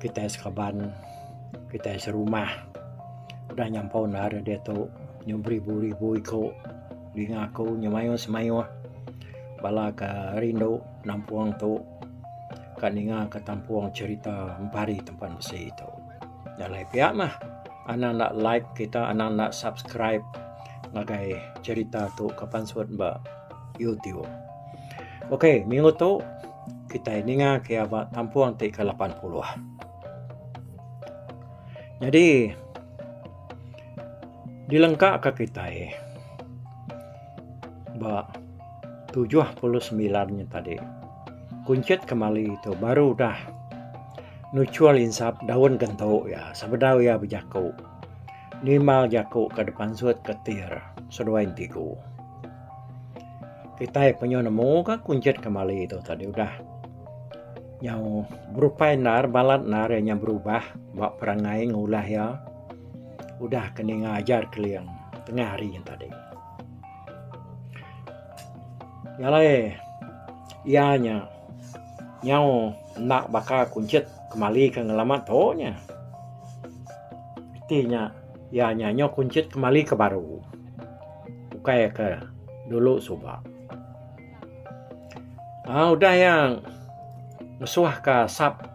kitai seraban, kitai serumah udah nyampau nda ari diatu nyu beribu-ribu iku dinga aku nyu mayuh semayuh bala ke rindu nampung tu ka ninga ka tampung cherita empari tempat besi tu. Jalai pia mah anak enda like kita anak enda subscribe ngagai cherita tu ke pansut ba YouTube. Okay minggu tu Kitai ninga kia ba kampung ti ke lapan puluh. Nyadi dilengka ka kitai ba tujuh puluh semilan nya tadi kunchit kemali tu baru udah nuchul insap daun kentu iya sebedau iya bejaku nimbal jaku ka depansut ka tir seduai entiku. Kitai penyu nemu ka kunjit kemali tu tadi udah. Nyau berupai endar balat endar iya nya berubah ba perangai ngulah iya. Udah ke ninga ajar keling tengah hari nya tadi. Nyalai iya nya nyau enda baka kunjit kemali ke ngelama tu nya. Iti nya Iya nya nyau kunchit kemali ke baru. Ukai ke dulu suba. Ah udah iya ngesuah ke asap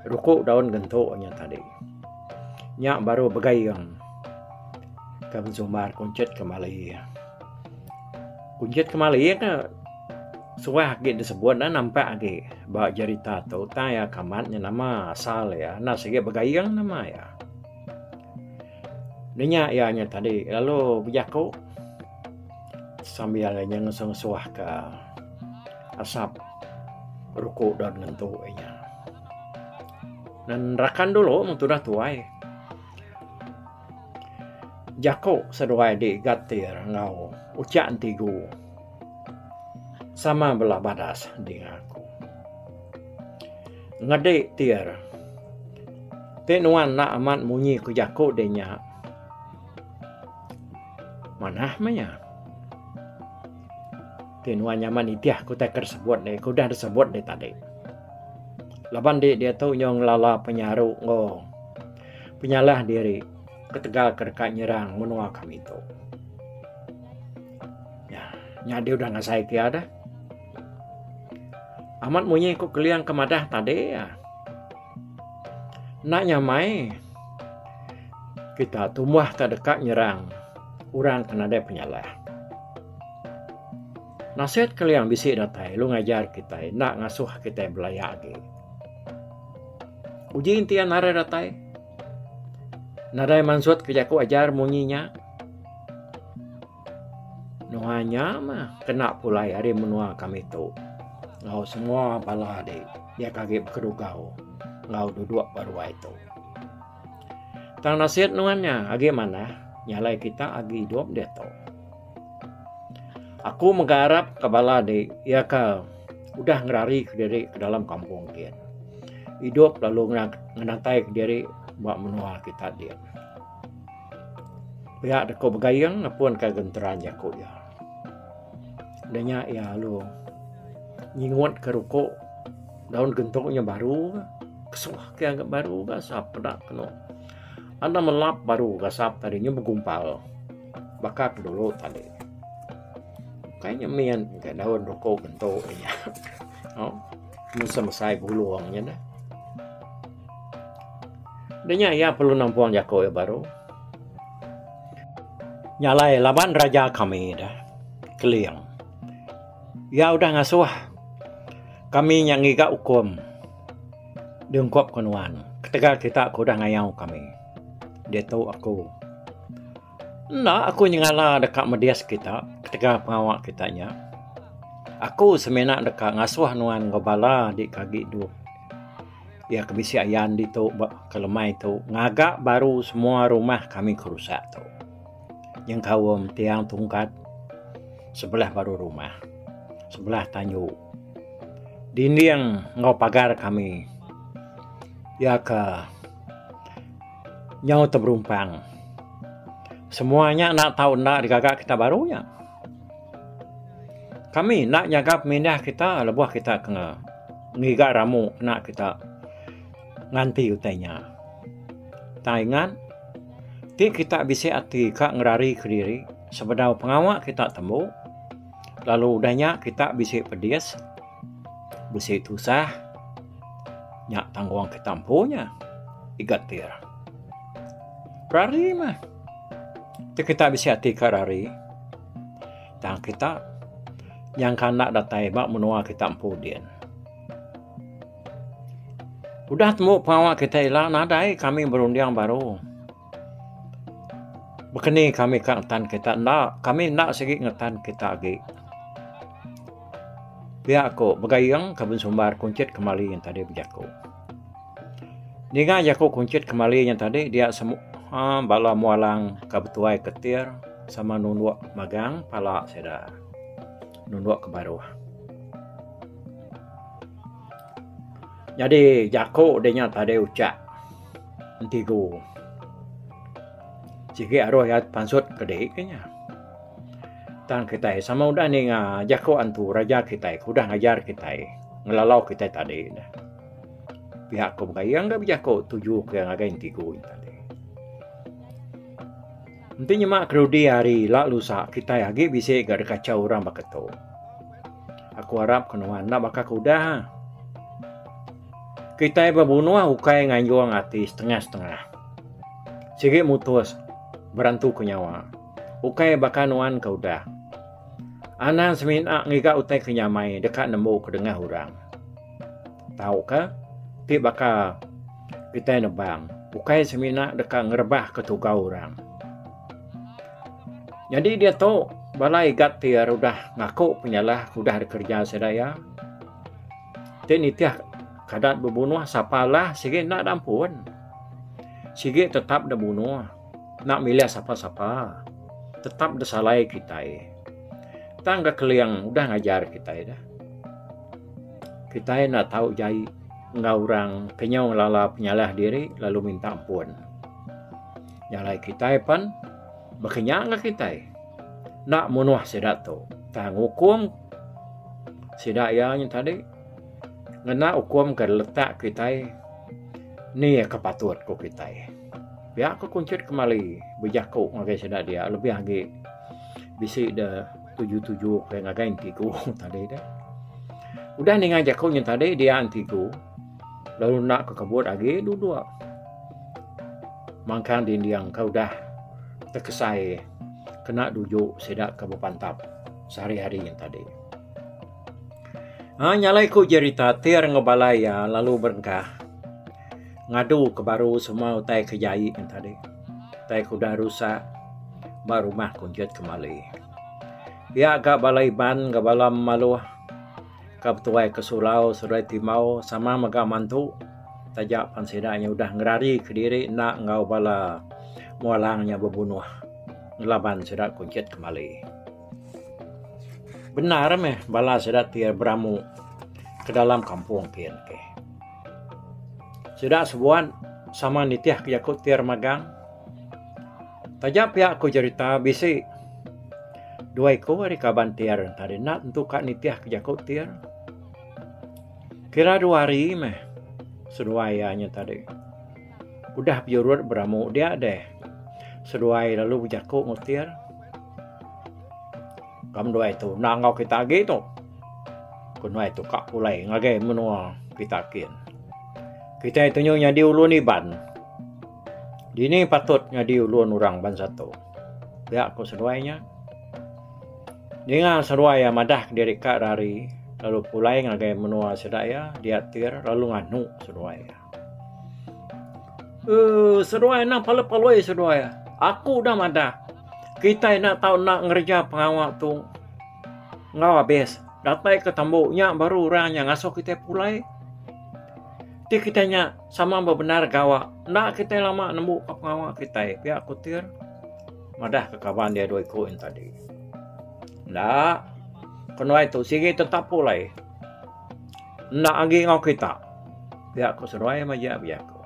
ruku daun gentu nya tadi. Nya baru begaing ke bensumbar kunchit kemali. Kunchit kemali ke suah agi disebut dah nampak agi ba jerita tu tang iya ke amat nya nama asal iya enda sigi begaing nama iya. Nanya iya nya tadi lalu bejaku sambil inya ngesuh-ngesuh ka asap ruko daun ngentu inya. Nan rakan dulu mung tudah tuai jaku seduai di gatir enggau ucha enti ku sama bala badas dinga ku. Ngedi tir. Ti nuan enda amat munyi ku jaku deh nya. Manah meh iya. Ti nuan nyaman nitih aku utai ke disebut deh. Ke udah disebut deh tadi. Laban di diatu nyo ngelala penyaru enggau penyalah diri ketegal ke deka nyerang menua kami tu. Nya, nya di udah ngasai ke iya dah. Amat munyi ku Keliang ke madah tadi. Enda nyamai kita tumbah ka deka nyerang orang ke nadai penyalah. Nasihat Keliang bisi datai lu ngajar kita enda ngasuh kita belaya agi. Uji enti iya narai datai. Nadai mansut ke jaku ajar munyi nya. Nuan nya mah kena pulai ari menua kami tu enggau semua bala adi dia ke agi bekerugau enggau duduk ba ruai tu. Tang nasit nuan nya agi manah nyalai kita agi idup diatu. Aku mega arap ke bala adi iya ke udah ngerari ke diri ke dalam kampung gin. Idup lalu ngenatai ke diri ba menua kita din. Pia da ku Begayeng nepun ka genteran jaku iya. Da nya iya lalu nyingut ka ruko daun gentu nya baru ka kesuah ke ga baru ga asap peda kenu. Anda melap baru ga asap tadi nya begumpal baka ke dulu tadi. Kai nya min ka daun ruko gentu nya. Nusa mesai bulung nya neh. Denya iya perlu nampung jaku iya baru. Nya alai laban raja kami dah Keling. Iya udah ngasuh kami nya ngiga ukum diungkup ke nuan ketegal kita ke udah ngayau kami. Ditu aku. Enda aku nyengala deka medis kita ketegal pengawa kita nya. Aku semina deka ngasuh nuan enggau bala dika agi dua iya ke bisi ayan ditu ba ke lemai tu ngaga baru semua rumah kami ke rusak tu. Nyengkaum tiang tungkat sebelah baru rumah. Sebelah tanju. Dinding enggau pagar kami iya ke Nyau teberumpang. Semua nya enda tau enda digaga kita baru nya. Kami enda nyaga pemindah kita lebuh kita kena ngiga ramu kena kita nganti utai nya. Tang ingat, ti kita bisi ati ka ngerari kediri sebedau pengawa kita tembu lalu udah nya kita bisi pedis, Bisi tusah nya tanggung ke tampu nya digatir. Rari mah. Tu kita bisi ati ka rari. Tang kita nyangka enda datai ba menua kita empu din. Udah tembu pengawa kita ila nadai kami berunding baru. Baka ni kami ka ngetan kereta enda, kami enda sigi ngetan kereta agi. Pia ku Begayeng ke bensumbar kunchit kemali nya tadi bejaku. Ninga jaku kunchit kemali nya tadi dia semua uhh bala mualang ka betuai ketir sama nundok magang pala sida nundok ke baruh. Nyadi jaku dinya tadi ucha. Enti ku sigi aruh iya pansut ke dei ke nya. Tang kitai sama udah ninga jaku antu raja kitai ke udah ngajar kitai ngelalau kitai tadi dah. Pihak ku mega iya enggai bejaku tuju ke ngagai enti ku nya tadi. Enti nyema kerudi hari ila lusa kitai agi bisi ga dikachau orang baka tu. Aku arap ke nuan enda baka ke udah. Kitai bebunoh ukai nganjong ati setengah-setengah. Sigi mutus berantu ke nyawa. Ukai baka nuan ke udah. Anang semina ngiga utai ke nyamai deka nembu ke dengah orang. Tau ke ti baka kitai nebang ukai semina deka ngerebah ke tugau orang. Nyadi diatu bala igat ti ira udah ngaku penyalah udah dikereja sida iya ti nitih kada bebunuh sapa lah sigi enda ada ampun sigi tetap dep bunuh enda milih sapa sapa tetap disalai kitai tang ga keling udah ngajar kitai dah kitai enda tau jai enggau orang ke nyau ngelala penyalah diri lalu minta ampun. Nya alai kitai pen baka nya enggau kitai. Enda munuh sida tu. Tang ngukum sida iya nya tadi ngena ukum ke letak kitai ni ke patut ku kitai. Pia ku kunchit kemali bejaku ngagai sida dia lebih agi bisi de tuju-tuju ke ngagai enti ku tadi de. Udah ninga jaku nya tadi dia enti ku Lalu enda ke kebut agi duduk mangkang dinding ke udah tekesai kena duju sida ke bepantap sehari-hari nya tadi. Ha nyalai ku jerita tir ngebalai iya lalu berengkah ngadu ke baru semua utai ke jai nya tadi. Utai ke udah rusak ba rumah kunjut kemali. Iya ga bala Iban enggau bala Maluh. ka betuai ke surau seduai timau sama mega mantu taja pan sida nya udah ngerari kediri enda enggau bala mualang nya bebunuh ngelaban sida kunchit kembali. Bendar meh bala sida ti beramu ke dalam kampung pin ke. Sida sebuan sama nitihka jaku ti remagang. Taja pia aku jerita bisi dua iku ari kaban Tir tadi enda tentu ka nitihka jaku Tir. Kira dua hari meh seduai iya nya tadi udah bejurut beramu dia deh seduai lalu bejaku enggau Tir. Kam duai tu enda enggau kita agi tu. Ku duai tu ka pulai ngagai menua kita kin. Kitai tu nyau nyadi ulun Iban. Dini patut nyadi ulun orang bansa tu? Pia ku seduai nya. Ninga seduai iya madah kediri ka rari lalu pulai ngagai menua sida iya diatir lalu nganu seduai iya. Uh, seduai enda palui-palui seduai iya. Aku udah madah. Kitai enda tau enda ngereja pengawa tu enggau abis. Datai ke tambu nya baru orang nya ngasuh kitai pulai. Ti kitai nya Sama bebendar gawa. Enda kitai lama nembu ka pengawa kitai, pia Kutir madah ke kaban dia dua iku yen tadi. Enda ke nuai tu sigi tetap pulai. Enda agi enggau kita, pia ku seduai maja bejaku.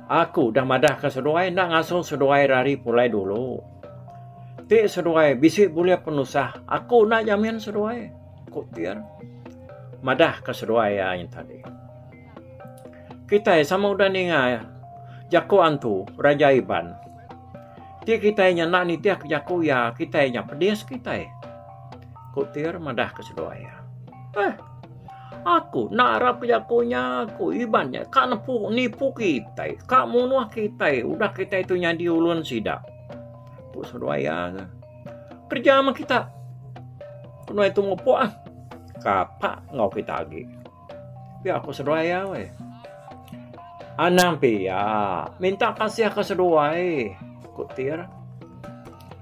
Aku udah madah ke seduai enda ngasuh seduai rari pulai dulu. Ti seduai bisi bulih penusah, aku enda nyamin seduai. Ku Tin madah ka seduai iya ain tadi. Kitai sama udah ninga jaku antu Raja Iban. Ti kitai nya enda nitih ka jaku iya, kitai nya pedis kitai. Ku Tir madah ka seduai iya. Eh, aku enda arap ka jaku nya, ku Iban nya ka nepu nipu kitai, ka munuh kitai udah kitai tu nyadi ulun sida. Ku seduai iya. Kerja mah kita. Kena itu mupuk ah. Kapa ngau kita agi. Pia aku seduai ya weh. Anang pia. Minta kasih ke seduai. Kutir.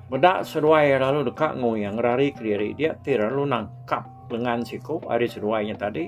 Bedak seduai lalu dekat ngoyang rari kediri dia tir lalu nangkap lengan siku hari seduai nya tadi.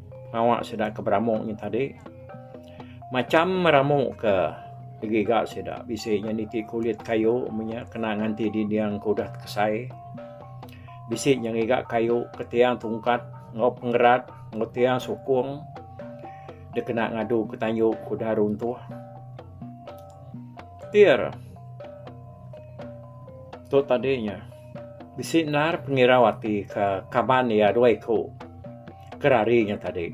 Awak sida ke beramuk nya tadi macham meramuk ke giga sida bisi nya niti kulit kayu menya kena nganti dinding ke udah tekesai bisi nya ngiga kayu ke tiang tungkat enggau pengerat enggau tiang sukung dia kena ngadu ke tanyu ke udah runtuh tir tu tadi nya bisi endar pengirau ati ke kaban ia dua iku Ke ari nya tadi,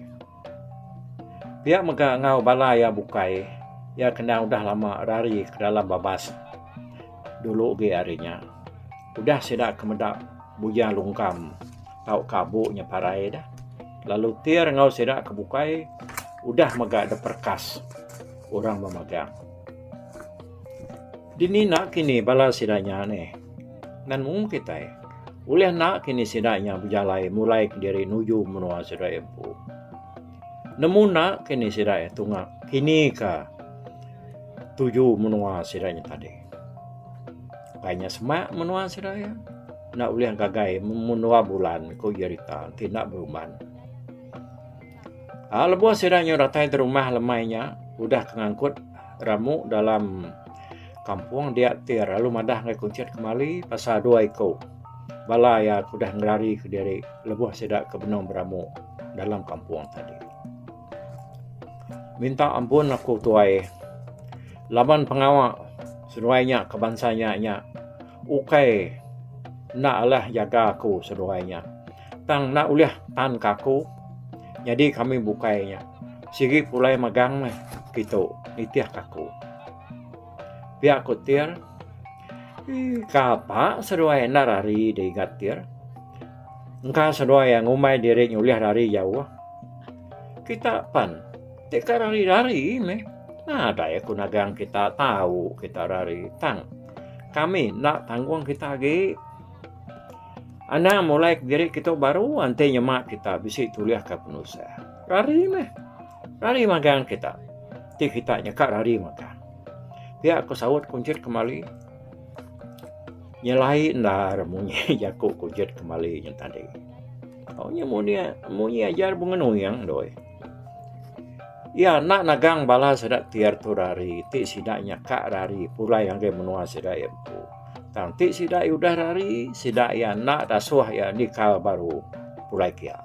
pia mega enggau bala iya bukai iya kena udah lama rari ke dalam babas dulu agi ari nya. Udah sida ke meda bujang lungkam tauka abu nya parai dah. Lalu tir enggau sida ke bukai udah mega deperkas orang memagang. Dini enda kini bala sida nya neh? Ngan mung kitai, ulih enda kini sida nya bejalai mulai kediri nuju menua sida empu. Nemu enda kini sida tunga kinika tuju menua sida nya tadi. Pai nya semak menua sida iya enda ulih ngagai menua bulan, ku Jerita ti enda beruban. Ah lebuh sida nyau datai ti rumah lemai nya udah ke ngangkut ramu dalam kampung dia ti lalu madah ngagai kunchit kemali pasal dua iku bala iya ke udah ngelari kediri lebuh sida ke benung beramu dalam kampung tadi. Minta ampun aku tuai laban pengawa seduai nya ke bansa nya nya ukai enda alah jaga aku seduai nya. Tang enda ulih tan ke aku nyadi kami bukai nya. Sigi pulai magang meh kitu, nitih ke aku. Pia ku Tir, Ih, kapa seduai enda rari digat Tir. Engka seduai ngumbai diri nyulih rari jauh. Kita pan ti ka rari-rari meh. Nadai aku nagang kita tau kita rari. Tang, kami enda tanggung kita agi. Anang mulai ke diri kita baru enti nyema kita bisi tulihka penusah. Rari meh. Rari magang kita. Ti kita nyeka rari magang. Pia aku saut kunjit kembali. Nyelai endar munyi jaku kunjit kembali nyen tadi. Au nya munyi munyi ajar bengenuyang doi. Iya enda nagang bala sida ti atur hari ti sida nyaka hari pulai ngagai menua sida iya empu. Tang ti sida iya udah hari sida iya enda dasuh iya nika baru pulai ke iya.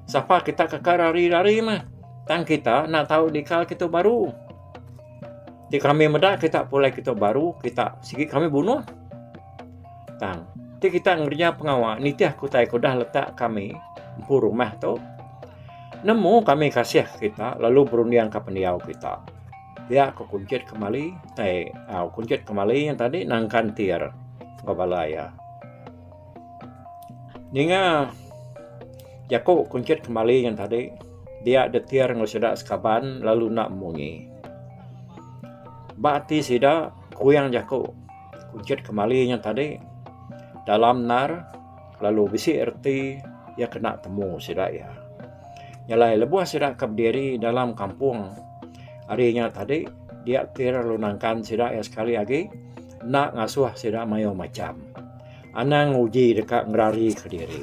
Sapa kita ke ka hari hari meh tang kita enda tau nika kita baru. Ti kami meda kita pulai kita baru kita sigi kami bunuh. Tang. Ti kita ngereja pengawa nitih aku tai kudah letak kami empu rumah tu. Nemu kami kasih kita lalu berunding ke pendiau kita. Dia aku kunjit kembali tai au kunjit kembali yang tadi nang kantir ke bala ya. Ninga jaku kunjit kembali yang tadi dia detir ngusida sekaban lalu nak munyi. Ba ti sida kuyang jaku Kunchit kemali nya tadi dalam ndar lalu bisi reti iya kena temu sida iya. Nya alai lebuh sida ke bediri dalam kampung ari nya tadi dia ti lalu nangkan sida iya sekali agi enda ngasuh sida mayuh macham. Anang nguji deka ngerari ke diri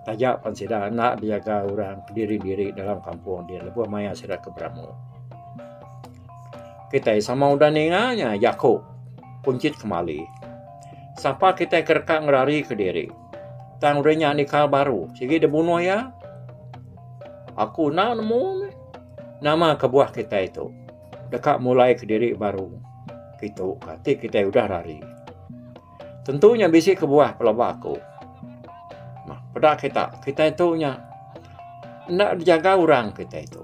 taja pen sida enda bejaga orang diri-diri dalam kampung ti lebuh maya sida ke beramu. Kitai sama udah ninga nya jaku kunchit kemali. Sapa kitai ke deka ngerari ke diri? Tang udah nya nikal baru, sigi dibunuh iya? Aku enda nemu meh. Nama kebuah kitai tu? Deka mulai ke diri baru. Kitu ka ti kitai udah rari. Tentu nya bisi kebuah pelaba aku. Mah peda kita, kita itu nya enda dijaga orang kita itu.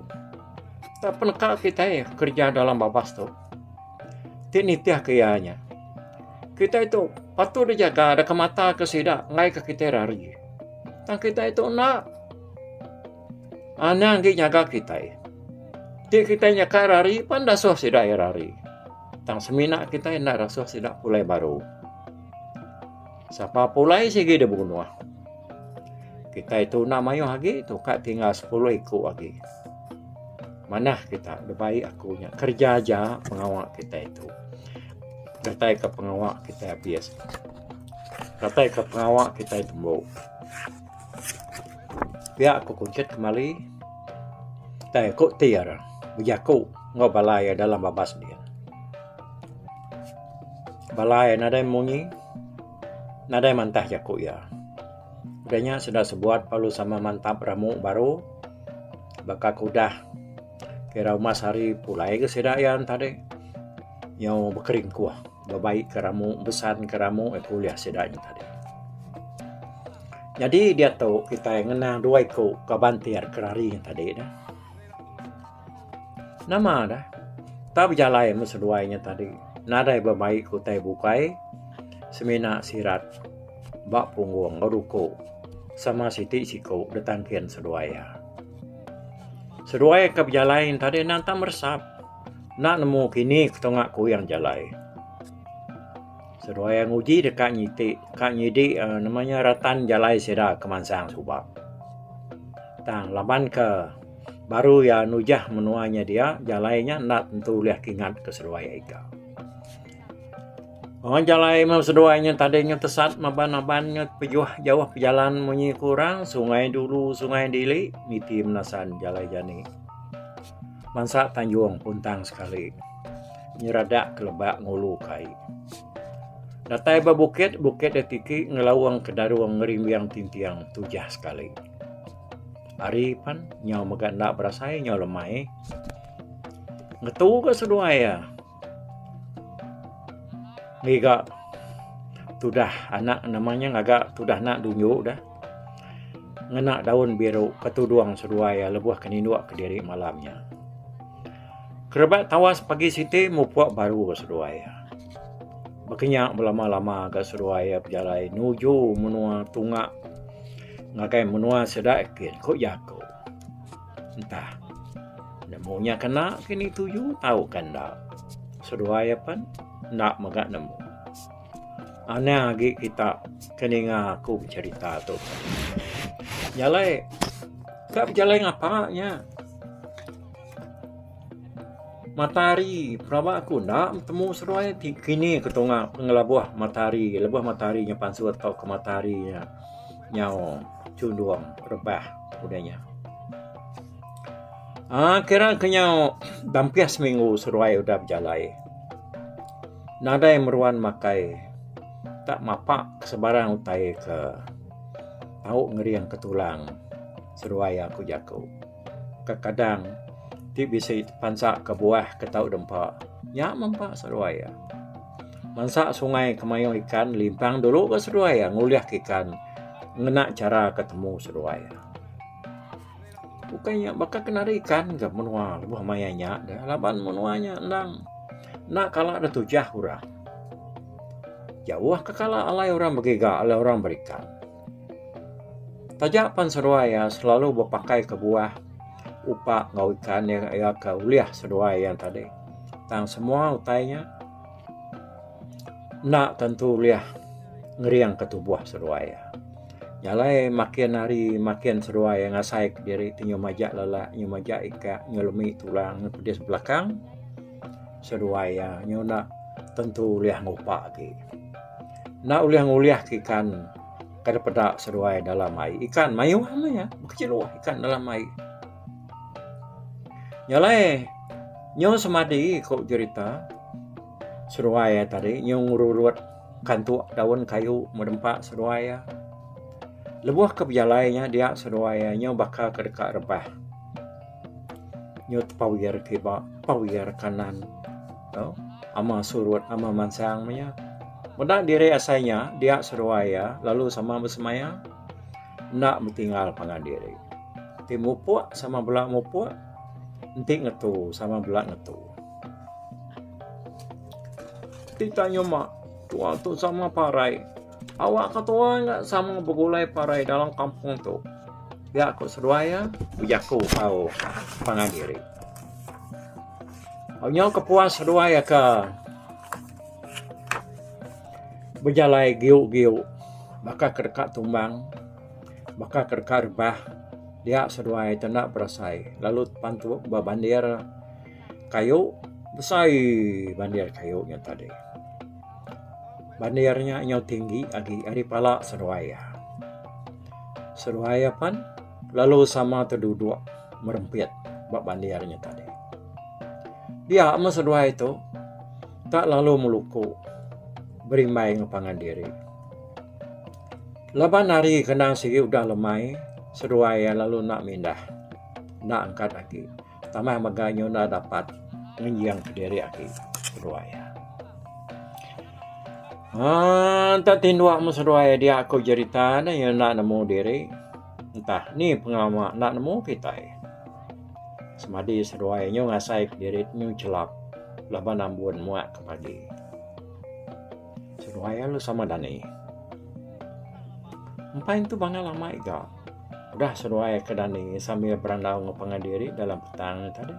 Tak peneka kita kerja dalam babas tu. Ti nitih ke iya nya. Kita itu patut dijaga ada ke mata ke sida ngai ke kita rari. Tang kita itu enda anang ah, gi nyaga kita. Ti kita nyaka rari pan dasuh sida rari. Tang semina kitai enda rasuh sida pulai baru. Sapa pulai sigi dibunuh. Kitai tuna mayuh agi tu ka tinggal 10 iku agi. Manah kita dibai aku nya kerja aja pengawa kitai tu. Datai ke pengawa kitai abis. Datai ke pengawa kitai tembu. Pia ku kunchit kemali tai ku ti re bejaku enggau bala iya dalam babas dia. Bala iya nadai munyi nadai mantah jaku iya. Udah nya sida sebuat lalu sama mantap ramu baru baka ku udah kira umas hari pulai ga sida iya ntadi nyau bekeringkuh. bebaik ke ramu besan ke ramu iku ulih sida nyengah diri. Nyadi diatu kitai ngenang dua iku ka bantir ke rari ne tadi ne. Nama ne tau bejalai meh seduai nya tadi nadai bebaik ke utai bukai semina sirat ba punggung ba ruku sama siti siku ditangkin seduai iya. Seduai ke bejalai ne tadi nantang meresap. Enda nemu kini ketonga kuyang jalai. Seduai nguji deh ka nyiti ka nyidi uhh nama nya ratan jalai sida ke mansang suba. Tang laban ke baru iya nujah menua nya dia jalai nya enda tentu ulih kingat ke seduai ai ka. Wang jalai meh seduai nya tadi nya tesat maban aban nya pejuah jauh pejalan munyi ke orang Sungai Dulu Sungai Dili niti menasan jalai jani. Mansa tanjung puntang sekali. Nyeradak ke lebak ngulu ke ai. Datai ba bukit, bukit da tiki ngelaung ke darung ngerimbing tintiang tujah sekali. Ari pan nyau mega enda berasai nyau lemai. Ngetu ga seduai iya. Ngiga tudah anak nama nya ngaga tudah anak dunyu dah ngena daun biru ke tudung seduai iya lebuh ke nindu kediri malam nya. Kerebak tawas pagi siti mupuk baru ba seduai iya. Baka nya belama lama ga seduai iya bejalai nuju menua tunga ngagai menua sida gin ku jaku. Entah. Nemu nya kena ke ni tuju tauka enda. Seduai apan enda mega nemu. Anang agi kita ke ninga aku becerita tu. Jalai. Ka bejalai ngapa nya? Matahari. Pelaba aku enda betemu seduai ti kini ke tunga pengelabuh matahari. Lebuh matahari nya pansut tauka matahari nya nyau. chundung rebah udah nya. Ah kira kenyau dampih seminggu seruai udah berjalai. Nadai meruan makai tak mapak sebarang utai ke tau ngering ke tulang seruai aku jaku. ke kadang ti bisi pansa ke buah ke tau dempa nya mempa seduai iya. Mansa sungai ke mayuh ikan limpang dulu ba seduai iya ngulihka ikan ngena chara ke temu seduai iya. Bukai nya baka ke nari ikan ka menua lebuh maya nya deh laban menua nya endang enda kala da tujah orang. Jauh ka kala alai orang begiga alai orang berikan. Taja pan seduai iya selalu bepakai ke buah upa enggau ikan iya ke ulih seduai iya tadi tang semua utai nya enda tentu ulih ngering ke tubuh seduai iya. Nya alai makin hari makin seduai iya ngasai ke diri ti nyau majak lala nyau majak ika nyau lemi tulang nyau pedis belakang seduai iya nyau enda tentu ulih ngupa agi. enda ulih ngulih ka ikan kada peda seduai dalam ai. Ikan mayuh meh iya, bekecil luah ikan dalam ai. Nya alai nyau semadi ku jerita seduai iya tadi nyau ngerulut kantuk daun kayu meh nempa seduai iya. Lebuh ke bejalai nya dia seduai iya nyau baka ke deka rebah. Nyau tepawir kiba, tepawir kanan. Tau? Ama surut, ama mansang meh iya. Meda diri asai nya, dia seruai iya lalu sama besemaya, enda betinggal pangan diri. Ti mupuk sama bela mupuk, enti ngetu sama bela ngetu. Ti tak nyuma, tua tu sama parai. Awak ke tua nya sama begulai parai dalam kampung tu. Dia ku seruai iya, bejaku tau pangan diri. Nyau ke puas seduai aka bejalai giu-giu baka ke deka tumbang baka ke deka rebah dia seduai ti enda berasai lalu tentu ba bandir kayu besai bandir kayu nya tadi. Bandir nya nyau tinggi agi ari pala seduai iya. Seduai iya pan. Lalu sama tu duduk merempit ba bandir nya tadi. Dia meh seduai tu tak lalu meluku berimbai ngan pangan diri. Laban hari kenang sigi udah lemai, seduai iya lalu nak mindah. Nak angkat agi. tanah mega nyuna dapat ngenjing kediri agi seduai. Ah, entah tinduak mu seduai dia aku jerita ni yang nak nemu diri. Entah ni pengamak nak nemu kita. Semadi seduai nyu ngasai kediri nyu celap laban ambun muak ke pagi. Seduai lu sama dani. Empai tu bangal amai ga. Udah seruai ke dani sambil berandau enggau pangan diri dalam petang nya tadi.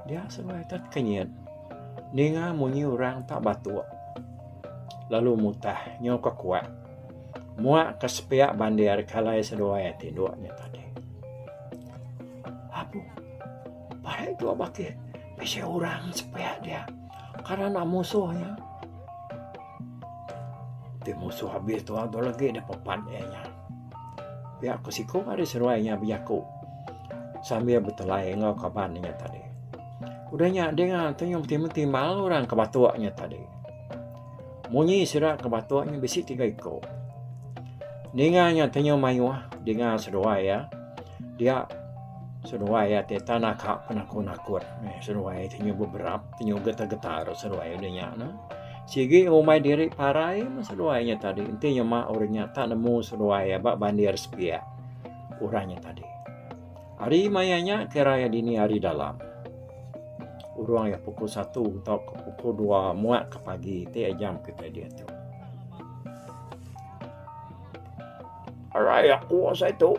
Dia seruai tat kenyit. Ninga munyi orang tak batuk. Lalu mutah nyo ke kuat. Muak ke sepiak bandir kalai seruai tinduk nya tadi. Apu. Parai tu abakih. Bisi orang sepiak dia. Karena musuh nya. Ti musuh abis tua tu lagi deh pepat iya nya. Pia ku siku ari seruai nya bejaku sambil betelai enggau kaban nya tadi. Udah nya ding ah tu nya menti-menti mal orang ke batuk nya tadi. Munyi sida ke batuk nya bisi tiga iku. Ninga nya tenyu mayuh dinga seduai iya. Dia seduai iya ti tanah ka penakut-nakut meh seduai tenyu beberap. Penyu getar-getar ro seruai udah nya no. Sigi rumai diri parai mah seruai nya tadi. Enti nya mak orang nya tak nemu seruai aba bandir sepiak orang nya tadi. Hari maya nya kira iya dini hari dalam. Urang iya pukul satu tau ke pukul dua muak ke pagi ti iya jam kitai diatu. Arai aku asa itu.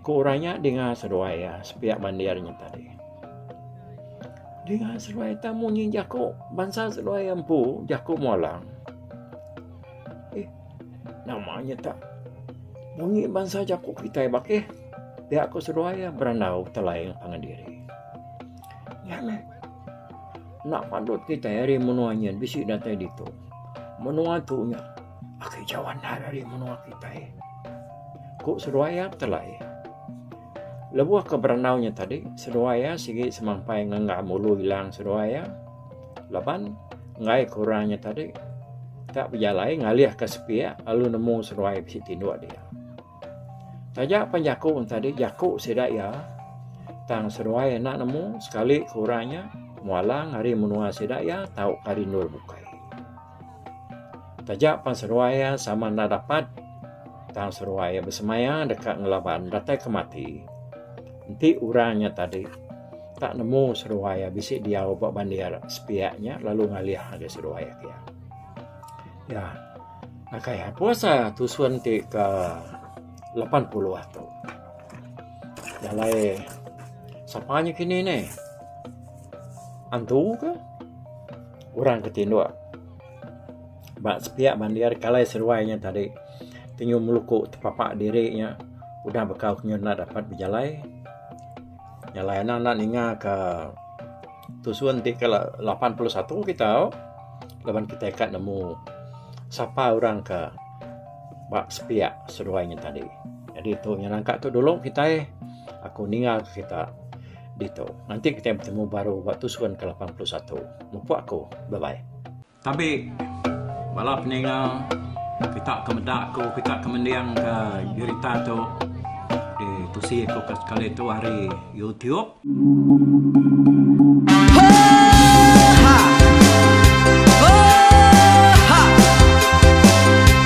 Ku orang nya dinga seruai iya sepiak bandir nya tadi. Dinga seduai ita munyi jaku bansa seduai empu jaku mualang. Eh, nama nya tak munyi bansa jaku kitai bakih. Pia ko seduai ya berandau telai pangan diri. Ya meh. Nak pandut kitai hari menua nya bisi datai ditu. Menua tu nya aki jawan hari menua kitai. Ko seduai ya telai. Lebuh ke berandau nya tadi, seduai iya sigi semampai ngenggam ulu ilang seduai iya laban enggai ke orang nya tadi tak bejalai ngalihka sepiak lalu nemu seduai bisi tinduk dia. Taja pan jaku orang tadi, jaku sida iya tang seduai enda nemu sekali ke orang nya mualang ari menua sida iya tauka rindu bukai. Taja pan seruai iya sama enda dapat tang seruai iya besemaya deka ngelaban datai ke mati. Enti orang nya tadi tak nemu seruai iya bisi diau ba bandir sepiak nya lalu ngalih ngagai seruai agi iya. Iya ngagai iya pun asa tusun ti ke lapan puluh atu. Jalai sapa nya kini nih? Antu kah? orang ke tinduk ba sepiak bandir kalai seruai nya tadi tenyum meluku tepapa diri nya udah bekau ke nyau enda dapat bejalai jalai anang enda ninga ka tusun ti ke lapan puluh satu kita tau laban kita ka nemu sapa orang ka ba sepiak seruai nya tadi jadi tu nya nangka tu dulu kitai aku ninga ka kita. Ditu. Nanti kitai betemu baru ba tusun ke lapan puluh satu. Mupuk aku. Bye bye. Tabi bala peninga kita ke meda aku kita ke mending ke berita tu di tusi aku ke sekali tu hari YouTube.